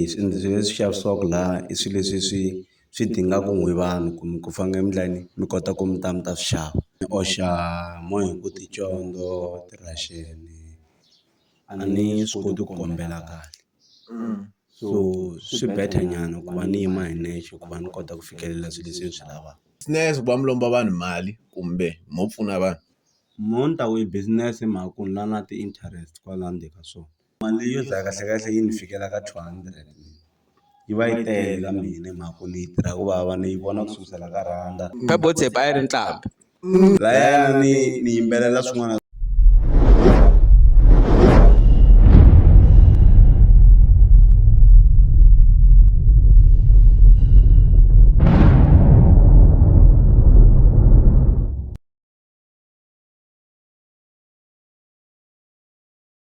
swilo leswi xavisiwaka laha i swilo leswi swi swi dingaka n'we vanhu kumbe ku fana na mi laha mi kota ku mi ta mi ta swi xava ni oxa mo hi ku ticondzo ti-russian-i a ni swi koti ku kombela kahle so swi better nyana ku va ni yima hi nexe ku va ni kota ku fikelela swilo leswi ni swi lavaka. Business ku va mi lomba vanhu mali kumbe mo pfuna vanhu. Mo ni ta ku i business hi mhaka ku ni lava na ti-interest kwala ndzeni ka swona. Mali yo dlaya kahle kahle yi ni fikela ka two hundred yi va yi tele ka mina hi mhaka ku ni yi tirha ku vava ni yi vona ku sukusela ka rhanda a yi ri nqambi lahayana ni ni yimbelela swin'wana.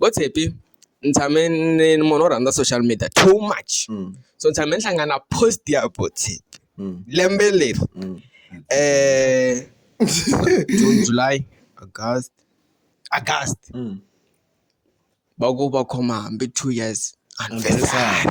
vo Tshepi ni tshame ni ni munhu wo rhandza social media too much so ni tshame ni hlangana na post ya vo Tshepi lembe leri June, July, August, August va ku va khoma hambi two years anniversary .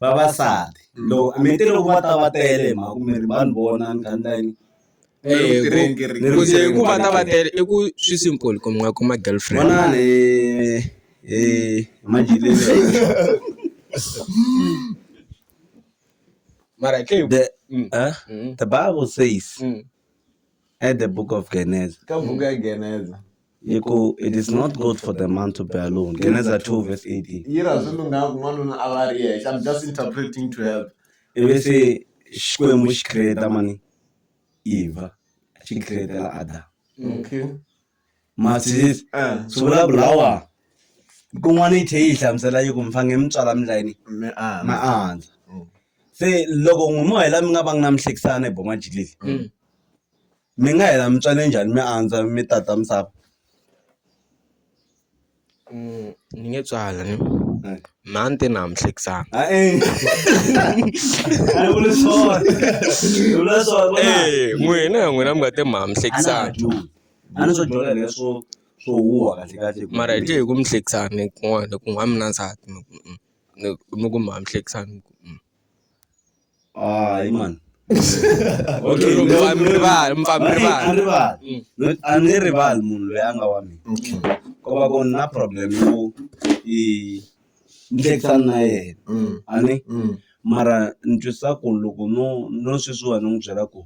vavasati loko mi te loko va ta va tele hi mhaka ku mi ri vanhu vona mi kha mi ta yini ku va ta va tele i ku swi simple ku mi nga kuma girlfriend vonani hi mara ke the the bible says at the book of Geneza ka buku ya Geneza. Hi ku, It is not good for the man to be alone. Geneza 2 verse 18. Yi ra swi lunghanga ku n'wanuna a va ri yexe. I'm just interpreting to help. Ivi se Xikwembu xi create mani? Eva. Xi createla Adam. Okay. Ma twisisa? Eh. Swi vulavula wa. Kun'wana yi tlhe yi hlamusela yi ku mi fange mi tswala mi layini. Mi andza. Ma andza. Se loko n'wi mo hela mi nga va nga na mihlekisano hi bomajilili. mi nga hela mi tswale njhani mi andza mi tata misava ni nge tswali ni mhani te ni hambihlekisana n'wina ya n'wina mi nga te mi hambihlekisana a ni swo dyondza leswo swo huha kahle kahle mara hi tlhe hi ku mi hlekisana kun'wana ku n'wa mi na nsati mi ku mi ku mi hambihlekisana . hayi mani okay Loko ndzi- va mi rivala, mi pfa mi Mani, rivala. a ni rivali Mm. No- a ni rivali munhu loyi a nga wa mina okay ko va ku ni na problem yo i ni hlekisana na yena mm a ni mm mara ni twisisa ku loko no no sweswiwa ni n'wi byela ku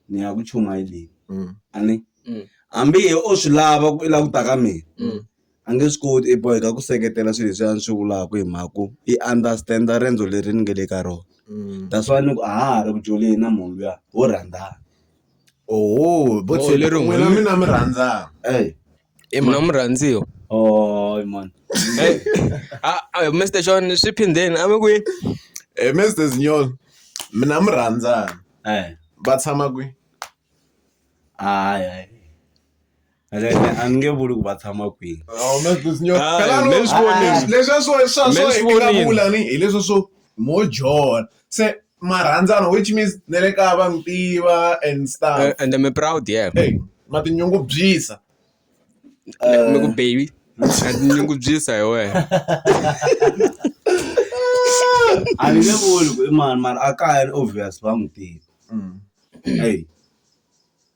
ni ya ku chumayeleni mm a ni Mm. hambi ye o swi lava ku i la ku ta ka mina mm a nge swi koti i boheka ku seketela swilo leswi a ni swi vulaka hi mhaka ku i understand-a riendzo leri ni nga le ka rona that's why ni ku a ha ha ri ku joleni na munhu luya wo rhandzana oho vo tlhela leri n'wina n'wina- mina mi rhandzana ey mina murhandziwa oh man Hey, ah, ah, mr john swi phindeni a mi kwihi Eh, Mr. Zinyolo, mina mi rhandzana. ey Va tshama kwi? hayi hayi vuli ku va tshama kwihi leswiwani hi leswi swo mo jola se marhandzana which means na le kaya va mi tiva and stuff eh, and mi proud yeah ma tinyungubyisa mi ku baby na tinyungubyisa hi wena a ni nge vuli ku i mani mara a kaya ni obvious va n'wi tiva mm. eyi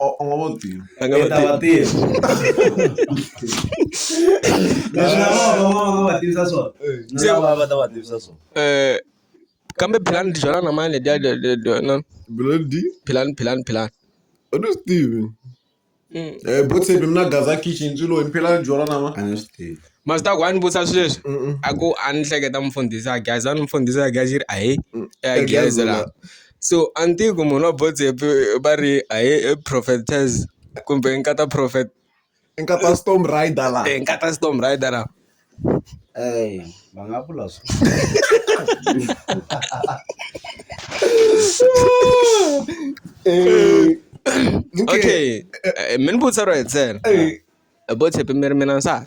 u nga va tivi a nga ta va tiva leswi na vona va va va va tivisa swona na lava va ta va tivisa swona um kambe philani ti byala na mani letiya na blodi philani philani philani u ni swi tivi Mm. Eh, botsepi mina gaza kitchen swilo hi mphela ni byala nama a ni swi tivi masita ku a ni vutisa swi leswi a ku a ni hleketa mfundhisi a geza ni mfundhisi a gezi ri ahe a geza la so a ni tivi ku munhu wa botsepe va ri a hi i prophetess kumbe nkata prophet i nkata storm rider la e nkata storm rider la eyi va nga vula swo okay mi ni vutisa ro hetisela botsepe mi ri mina nsati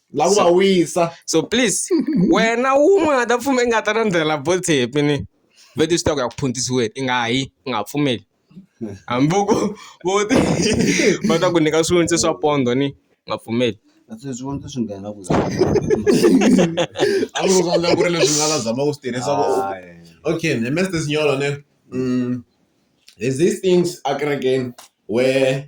la ku va wisa so please wena wun'we nga ta pfumela i nga ta landzela bolt-i happy ni vete swi ta ku ya ku phuntisiweni i nga yi i nga ha pfumeli hambi ku vo ti va ta ku nyika swivonisi swa pondo ni nga pfumeli Kasi leswi vona swi nghena ku a ku swa ku ri leswi nga va zama ku swi tirhisa ku okay ne mr signolo ne mm, there's these things akerekeni where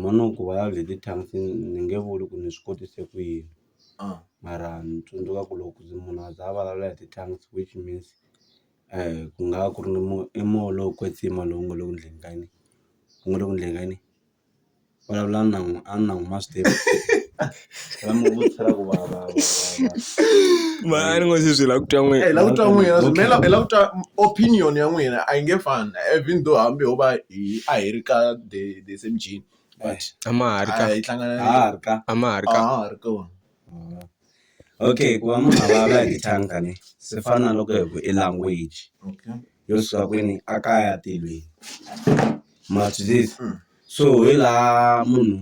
Mhani wa ku va leti ti-tanks ni nge vuli ku ni swi kotise ku yini mara ni tsundzuka ku loko munhu a za a vulavula hi ti-tanks which means ku nga va ku ri ni i moya lowo kwetsima lowu nga le ku endleni ka yini ku nga le ku endleni ka yini vulavula na a ni na n'wi ma swi tiva. ra mi vutisa ra ku va va va- va- mani ngo se swi la ku twa n'we Eh, la ku twa n'wina Okay. swimela la ku twa opinion ya n'wina a yi nge fani even though hambi ho va hi a hi ri ka the the same gene but a ma ha ri ka a yi hlangana Ah, ha ri ka a ma ha ri ka Ah, ha ri kona okay ku va munhu a vulavula hi tithanka ni swi fana na loko hi ku i language okay yo suka kwini a kaya tilweni ma swi twisisa Mm. so hi laha munhu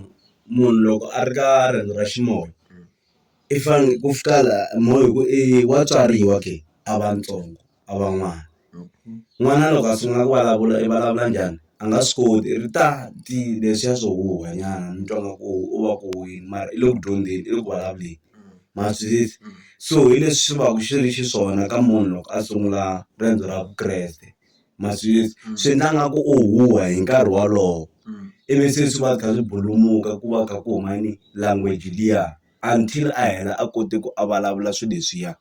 munhu loko a ri ka riendzo ra ximoya i fane ku fika la moya hi ku i wa tswariwa ke a va ntsongo a va n'wana n'wana loko a sungula ku vulavula i vulavula njhani a nga swi koti ri ta ti leswiya swo huha nyana ni twa nga ku u va ku huhweni mara i le ku dyondzeni i le ku vulavuleni ma swi twisisa so hi leswi swi vaku swi ri xiswona ka munhu loko a sungula riendzo ra Vukreste. ma swi swi endla nga ku u huha hi nkarhi wolowo ivi se swi va kha swi bulumuka ku va kha ku huma ni language liya until a hela a kote ku a vulavula swi leswiya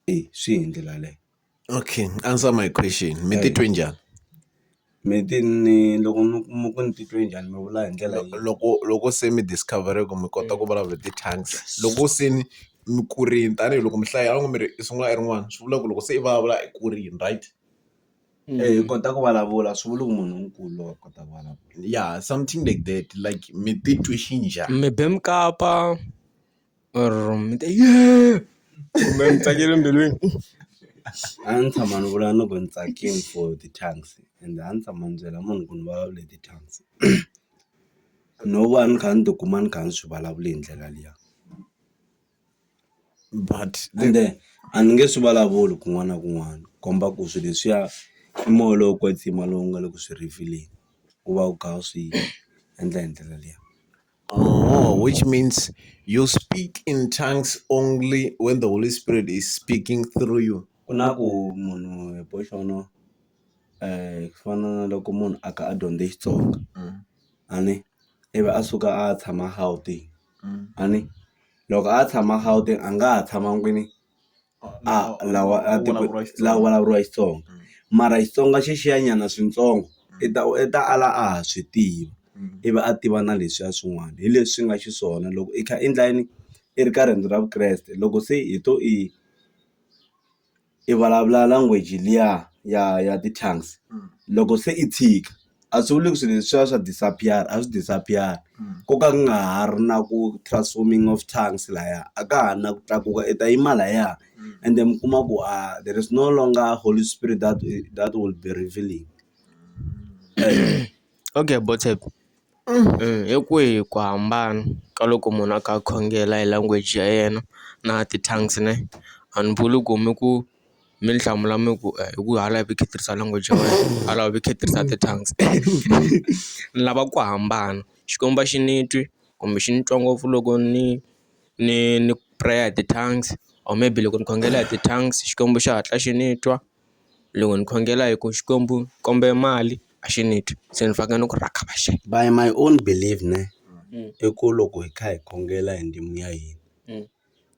e swi hi ndlela yaleyo. Okay answer my question mi titwe njhani? Mi ti ni loko mi kuma ku ni titwe njhani mi vula hi ndlela loko loko se mi discover-ile ku mi kota ku vulavula hi ti-tongues loko se ni mi kurile tanihiloko mi hlaya a wu nge mi ri i sungula i ri n'wana swi vula ku loko se i vulavula i kurile right hi kota ku vulavula swi vula ku munhu nkulu wa kota ku vulavula ya something like that like mi titwe xinjhani mi be mukapa. A ndzi tshama ni vula ni ku ni tsakini for ti-tongues ende a ni tshama ni byela munhu ku ni vulavula hi ti-tongues no va ni kha ni tikuma ni kha ni swi vulavula hi ndlela liya but ende a ni nge swi vulavuli kun'wana na kun'wana komba ku swilo leswiya i moya lowo kwetsima lowu nga le ku swi rhivhileni u va u kha u swi endla hi ndlela liya. Oh, which means you speak in tongues only when the Holy Spirit is speaking through you. ku na ku munhu hi boxono um ku fana na loko munhu a ka a dyondze xitsonga a ni ivi a suka a ya tshama gauteng a ni loko a ya tshama gauteng a nga ha tshama kwini a lawa a ti la vulavuriwa Xitsonga mara Xitsonga xi xiya nyana swintsongo i ta u ta ala a ha swi tiva i va a tiva na leswiya swin'wana hi leswi nga xiswona loko i kha i endla yini i ri ka riendzo ra Vukreste loko se i to i i vulavula language liya ya ya ti-tongues loko se i tshika. a swi vuli ku swi leswiya swa disappear a swi disappear ko ka ku nga ha ri na ku transforming of tongues laya a ka ha ri na ku tlakuka i ta yima laya ende mi kuma ku a there is no longer holy spirit that that will be revealing okay hi kwihi ku hambana ka loko munhu a kha a khongela hi language ya yena na ti-tongues ne a ni vuli ku mi ku. mi ni hlamula mi ku hi ku hala a hi kha hi tirhisa language ya wena hala hi kha hi tirhisa ti tongues ni lava ku hambana Xikwembu a xi ni twi kumbe xi ni twa ngopfu loko ni ni ni prayer hi ti tongues or maybe loko ni khongela hi ti tongues Xikwembu xi hatla xi ni twa loko ni khongela hi ku Xikwembu ni kombe mali a xi ni twi se ni fanekele ni ku rhakavaxe by my own believe ne i ku loko hi kha hi khongela hi ndzimi ya hina.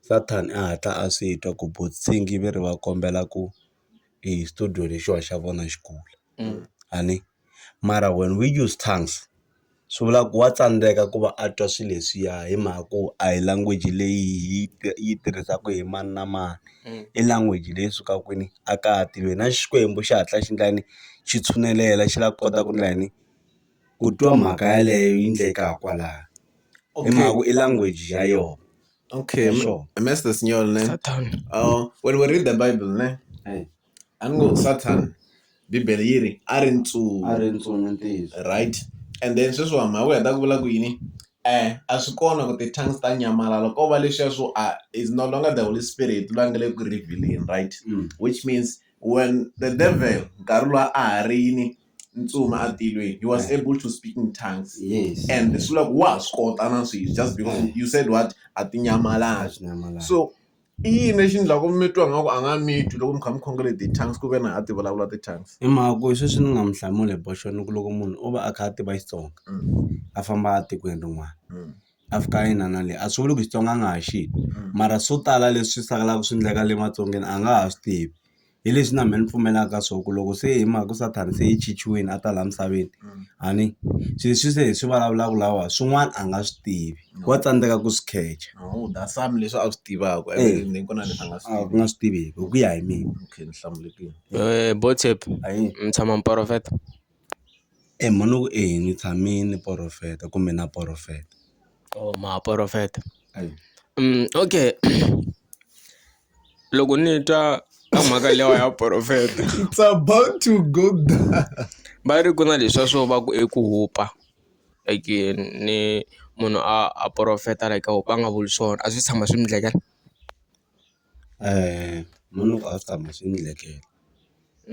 Satan a hatla a swi twa ku vatshiki va ri va kombela ku i xitudiyo lexiwa xa vona xi kula a ni mara when we use tongues swi vula ku wa tsandzeka ku va a twa swilo leswiya hi mhaka ku a hi language leyi hi yi tirhisaka hi mani na mani i language leyi sukaka kwini a ka ha tivi na Xikwembu xi hatla xi endla yini xi tshunelela xi lava ku kota ku endla yini. ku twa mhaka yaleyo yi ndleka ha kwalaho i mhaka ku i language ya yona okay mester sinyol ne uh, when we read the bible ne a ni ngo satan bibele yi ri a ri ntsunu right and then sweswi wa mhaka u heta ku vula ku yini um a swi kona ku ti-tongues ta nyamalala ko va leswiya swo a is no longer the holy spirit va nge le ku revealing right mm. which means when the devil nkarhi lowa a ha ri yini ntsumi a tilweni he was able to speak in tongues yes and swi vula ku wa ha swi kota na sweswi just because you said what a tinyamalala Nyamalala. so i yini lexi endlaku mi twa nga ku a nga mi twi loko mi kha mi khongele ti-tongues ku ve na a ti vulavula ti-tongues hi mhaka ku sweswi ni nga mu hlamula hi boxoni ku loko munhu o va a kha a tiva xitsonga Mm. a famba a tikweni rin'wana Mm. a fika a yina na le a swi vuli ku xitsonga a nga ha xi mara swo tala leswi sakalaka swi endleka le matsongeni a nga ha swi tivi hi leswi na mehe ni pfumelaka ka swo ku loko se hi mhaka ku sathana se i chichiwile a ta laha misaveni a ni swi leswi se hi swi vulavulaka lawa swin'wana a nga swi tivi wa tsandzeka ku swi khecha no that's some leswi a swi tivaka Eh. and then ku na leswi a nga swi a ku tivi nga swi tiveki hi ku ya hi mina okay ni hlamulekile Eh, botep ayi mi tshama mi porofeta e mhani ku ehi ni tshame ni porofeta kumbe na porofeta o ma porofeta ayi Mm, okay loko ni twa ka mhaka lewa ya profeta it's about to go down va ri ku na leswiya swo va ku i ku hupa like ni munhu a a profeta like a hupa a nga vuli swona a swi se tshama swi mi endlekela munhu a swi tshama swi ni endlekela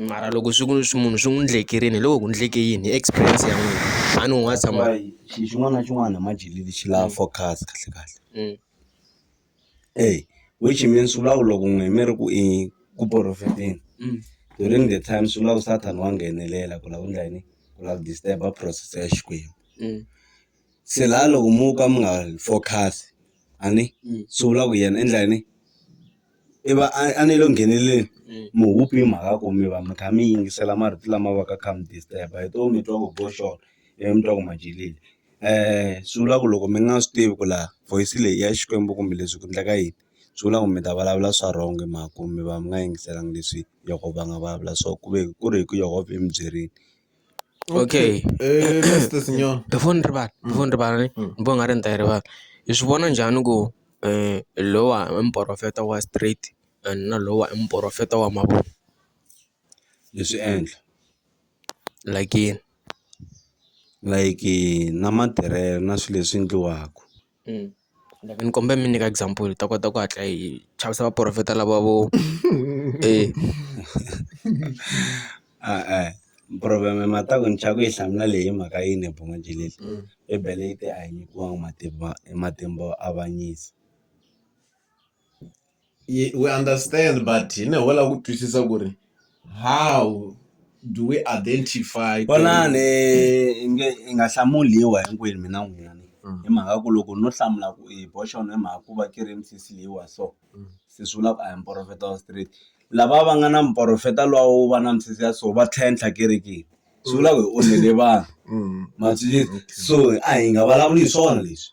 mara loko swi ku swi munhu swi n'wi endlekerile hi loko ku endleke yini hi experience ya n'wina a ni u nga tshama xilo xin'wana na xin'wana hi majele lexi lava focus kahle kahle. Eyi which means swi vula ku loko n'wina mi ri ku i ku profeteni during the time swi vula ku Satan wa nghenelela ku lava ku endla yini ku lava ku disturb-a process ya Xikwembu se la loko mo ka mi nga focus a ni swi vula ku yena endla yini i va a a ni le ku ngheneleleni mi hope hi mhaka ku mi va mi kha mi yingisela marito lama va ka kha mi disturb-a hi to mi twa ku boxo ivi mi twa ku ma jelile. swi vula ku loko mi nga swi tivi ku la voice leyi i ya Xikwembu kumbe leswi ku endleka yini swi vula ku mi ta vulavula swa wrong hi mhaka ku mi va mi nga yingiselanga leswi Yehovha va nga vulavula swo ku ve ku ri hi ku Yehovha i mi byerile okay before ni rivala before ni rivala ni ni vona nga ri ni ta yi rivala hi swi vona njhani ku lowa i muporofeta wa straight and na lowa i muporofeta wa mavunwa hi swi endla. Like like na matirhelo na swilo leswi endliwaka ni kombela mi nyika example hi ta kota ku hatla hi chavisa vaporofeta lava vo e e-e problem-e ma ta ku ni chava ku yi hlamula leyi hi mhaka yini hi buma njhe leti bibele yi te a hi nyikiwanga matimba matimba yo avanyisa. Ye we understand but hi ne ho lava ku twisisa ku ri how do we identify ku ri- vonani i nge i nga hlamuli hi wa hinkwenu mina n'wina ni Mm. hi mhaka ku loko no hlamula ku i boxon hi mhaka ku va ki ri misisi leyi wa so Mm. se swi vula ku a hi muporofeta wa straight lava va nga na muporofeta lowa wo va na misisi ya so va tlhentlha kerekeni swi vula ku hi onhele vanhu Mm. ma swi so a hi nga vulavuli hi swona leswi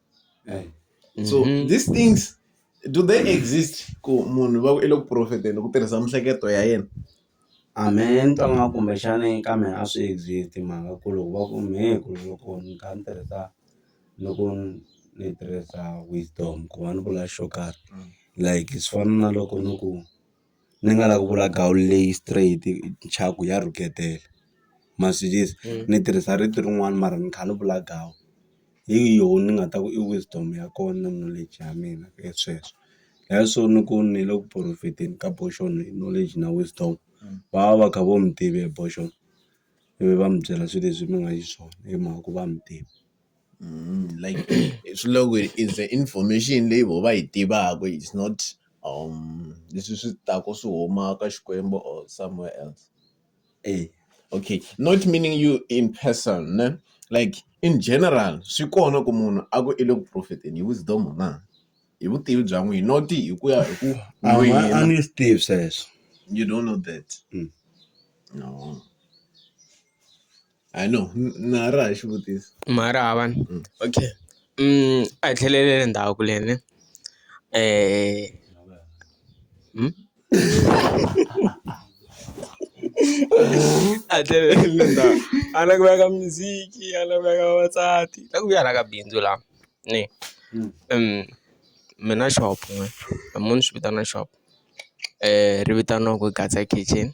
Right. Mm-hmm. So these things do they exist ku munhu va ku i le ku profeteni ku tirhisa mihleketo ya yena a me ni twa nga kumbexani ka mina a swi exist mhaka ku loko va ku me ku loko ni kha ni tirhisa loko ni tirhisa wisdom ku va ni vula xo karhi like swi fana na loko ni ku ni nga la ku vula gawu leyi straight nchaku ya rhuketela ma swi twisisa ni tirhisa rito rin'wani mara ni kha ni vula gawu hi yoho ni nga ta ku i wisdom ya kona na knowledge ya mina hi sweswo hi swo ni ku ni le ku profit-eni ka portion hi knowledge na wisdom va va va kha vo mi tiva hi portion ivi va mi byela swi leswi mi nga xiswona hi mhaka ku va mi tiva. like swi le ku it's the information leyi voho va yi tivaka it's not leswi swi taka swi huma ka Xikwembu or somewhere else. E okay not meaning you in person ne like in general swi kona ku munhu a ku i le ku profet-eni hi wisdom na hi vutivi bya n'wina not hi ku ya hi ku a ni swi tivi sweswo you don't know that no. I know na ra ha xivutiso mara hava ni okay a hi tlheleleni ndzhaku le ni a hi tlheleleni le ndzhaku a ni la ku veka music a ni la ku veka vavasati la ku vuya la ka bindzu la ni mina shop ni munhu ni swi vitana shop ri vitaniwaku Gasa Kitchen.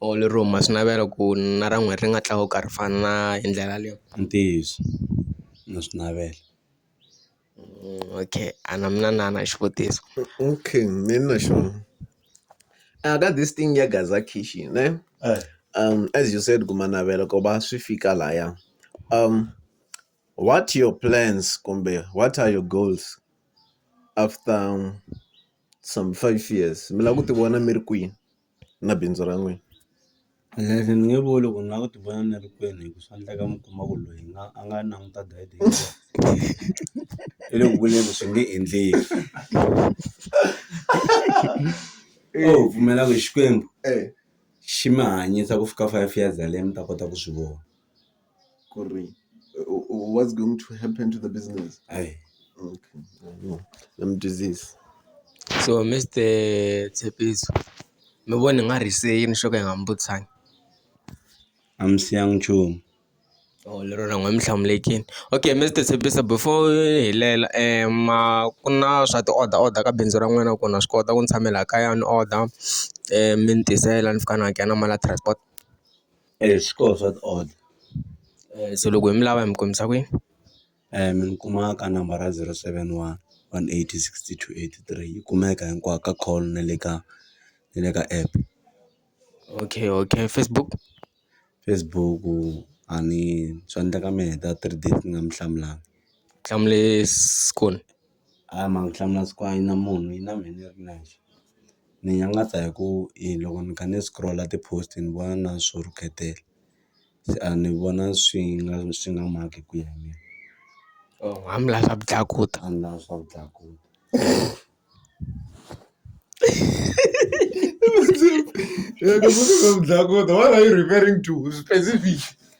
or lero huma swi navela ku na ra n'wina ri nga tlakuka ri fana na hi ndlela leyo. I ntiyiso na swi navela. Okay a na mina na na xivutiso. Okay me ni na xona a ka this thing ya gaza khichi ne as you said ku ma navela ku va swi fika laya what your plans kumbe what are your goals after some five years mi lava ku ti vona mi ri kwini. na bindzu ra n'wina. Leswi ni nge vuli ku ni lava ku ti vona ni ri kwini hi ku swa endleka mi kuma ku loyi na a nga languta guide i le ku vuleni swi nge endleki u pfumela ku Xikwembu xi mi hanyisa ku fika five years yaleyo mi ta kota ku swi vona. ku ri what's going to happen to the business hayi okay I'm disease so Mister Tshepiso mi vona hi nga rhise yini xo ka hi nga mi vutisangi a mi siyanga nchumu or lero na n'we mi hlamulekile okay Mister Tshepiso before hi lela ma ku na swa ti order order ka bindzu ra n'wina ku na swi kota ku ni tshamela kaya ni order mi ni tisela ni fika ni hakela na mali ya transport. swi koho swa ti order so loko hi mi lava hi mi kumisa kwihi mi ni kuma ka number ra zero seven one one eight six two eight three yi kumeka hinkwako ka call na le ka na le ka app okay okay Facebook Facebook a ni swa endleka mi heta three days ni nga mi hlamulanga hlamulise . A hi mhaka ku hlamula swa ku a yi na munhu yi na mehe ni ri nexe ni nyangatsa hi ku i loko ni kha ni scroll-a ti-post ni vona na swo rhuketela se a ni vona swi nga swi nga maki ku ya hi mina hambileswi swa ku tlakuta hambileswi swa ku tlakuta dlakuta what are you referring to specific.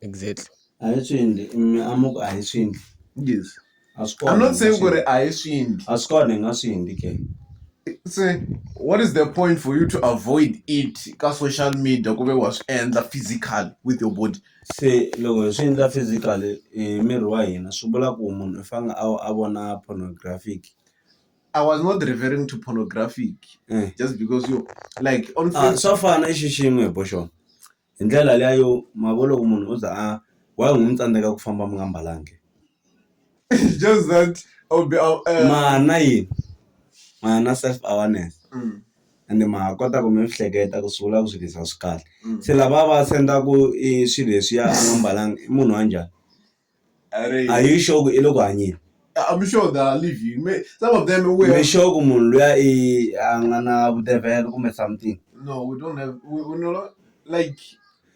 exactly a hi swi endli mi a mi ku a hi swi endli yes a swi kona I'm not saying ku ri a hi swi endli a swi kona hi nga swi endli ke se what is the point for you to avoid it ka social media ku ve wa swi endla physical with your body se loko hi swi endla physical hi miri wa hina swi vula ku munhu i fanele a a vona pornographic I was not referring to pornographic Eh. just because you like on a swa fana i xixin'we hi bo xona hi ndlela liya yo ma vo loko munhu o za a why u n'wi tsandzeka ku famba mi nga mbalanga na yini ma na self awareness ende ma ha kota ku mi ehleketa ku swi vula ku swilo se lava va sendaka i swilo leswiya a nga mbalanga i munhu wa njhani. are you sure ku i le ku hanyeni I'm sure they are living. May, some of them we mi have, sure ku munhu luya i a nga na vudevhelo kumbe something no, we don't have we, we no like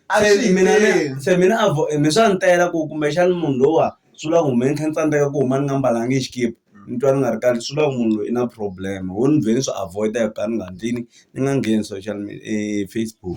a se swi mina ni- endli. se mina a vo- mi swa ni tela ku kumbexani munhu lowa swi vula ku me ni kha ni tsandzeka ku huma ni nga mbalanga hi xikipa ni twa ni nga ri kahle swi vula ku munhu loyi i na problem wo ni vhe ni swi avoida hi ku ka ni nga ndlini ni nga ngheni social media eh, facebook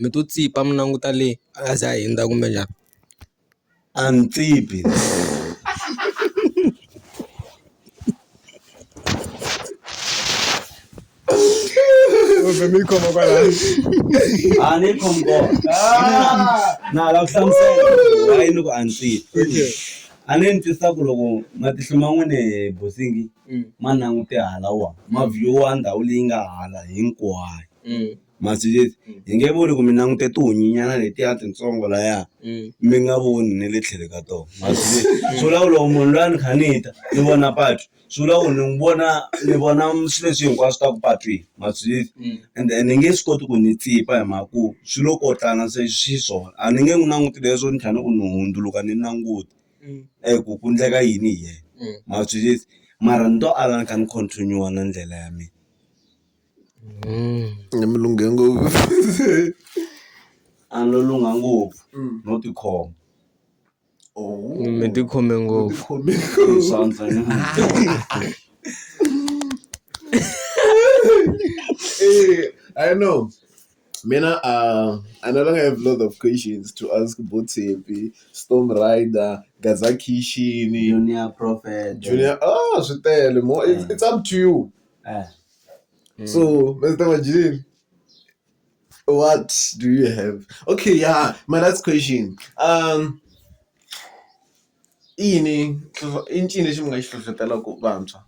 mi to tsipa mi languta le a za ha hundza kumbe njhani a ni tsipi. A ni twisisa ku loko matihlo ma n'wina bosingi ma langute hala wa ma view-a ndhawu leyi nga hala hinkwayo. masi leti hi nge voni ku mi langute tihunyinyana letiya titsongo laya mi nga voni ne le tlhele ka tona masi leti swi vula ku loko munhu loyi a ni kha ni ta ni vona patu swi vula ku ni n'wi vona ni vona swi leswi hinkwaswo swi taku patwini ma swi tivi ende ni nge swi koti ku ni tsipa hi mhaka ku swi lo kotlana se xiswona a ni nge n'wi languti leswo ni tlhela ni ku ni hundzuluka ni languta eku ku ndleka yini hi yena ma swi tivi mara ni to ala ni kha ni continue na ndlela ya mina. ni mi lunghe ngopfu a no lungha ngopfu no tikhoma mi ti khome ngopfu I know mina a a no longer have lot of questions to ask bo Tshepi, Storm Rider, Gaza Khixini, Junior Prophet, Junior ah swi tele more it's, it's up to you. So, Mr. Majid, what do you have? Okay, yeah, my last question. Um, ini i ncini lexi mi nga xi hlohlotelaka vantshwa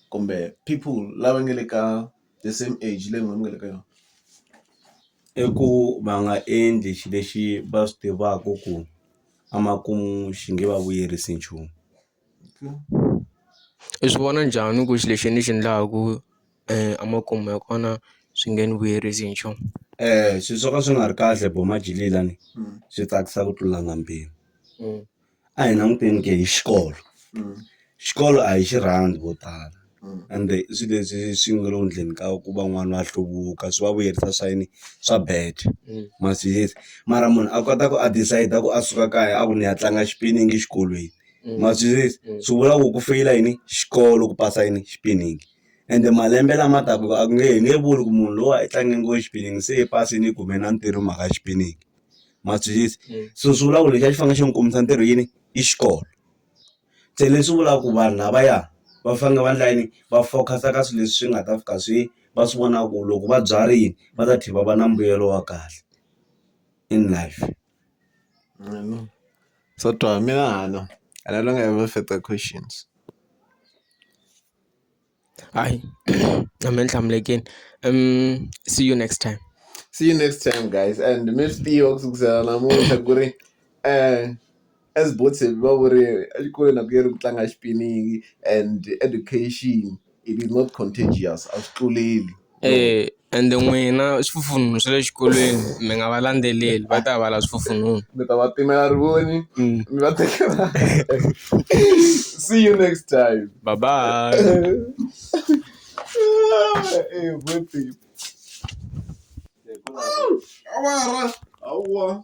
kumbe people lava nga le ka the same age leyi n'wina mi nga le ka yona i ku va nga endli xilo lexi va swi tivaka ku emakumu xi nge va vuyerisi nchumu. I swi vona njhani ku xilo lexi ni xi endlaku emakumu ya kona swi nge ni vuyerisi hi nchumu swilo swo ka swi nga ri kahle bo majigila lani swi tsakisa ku tlula na mpimo a hi languteni ke hi xikolo xikolo a hi xi rhandzi vo tala. ende i swi leswi swi nga le ku endleni ka ku va n'wana a hluvuka swi va vuyerisa swa yini swa bad ma swi yisa mara munhu a kota ku a decide-a ku a suka kaya a ku ni ya tlanga xipiningi exikolweni ma swi yisa swi vula ku ku feyila yini xikolo ku pasa yini xipiningi ende malembe lama taka a ku nge he nge vuli ku munhu lowa i tlange ngo xipiningi se i pasini i kume na ntirho hi mhaka xipiningi ma swi yisa so swi vula ku lexi a xi fanele xi n'wi kombisa ntirho yini i xikolo. Se leswi vulaka ku vanhu lavaya va fanele va endla yini va focus-a ka swilo leswi nga ta fika swi va swi vona ku loko va byarile va ta tlhela va va na mbuyelo wa kahle in life. Swa twala mina a ni a ni ri na yona further questions. Hayi I'm enhlamule again. Um see you next time. See you next time guys and mifty okusukusela namuntlha ku ri eh as both se va ku ri exikolweni a ku yeri ku tlanga xipiniyi and education it is not contagious a swi tluleli. Eya ende n'wina swifufununu swa le xikolweni mi nga va landzeleli va ta va lava swifufununu mi ta va timela rivoni mi va tekela see you next time bye bye awara hawa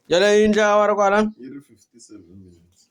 yaleyo yi endla awara kwala yi ri fifty seven minutes.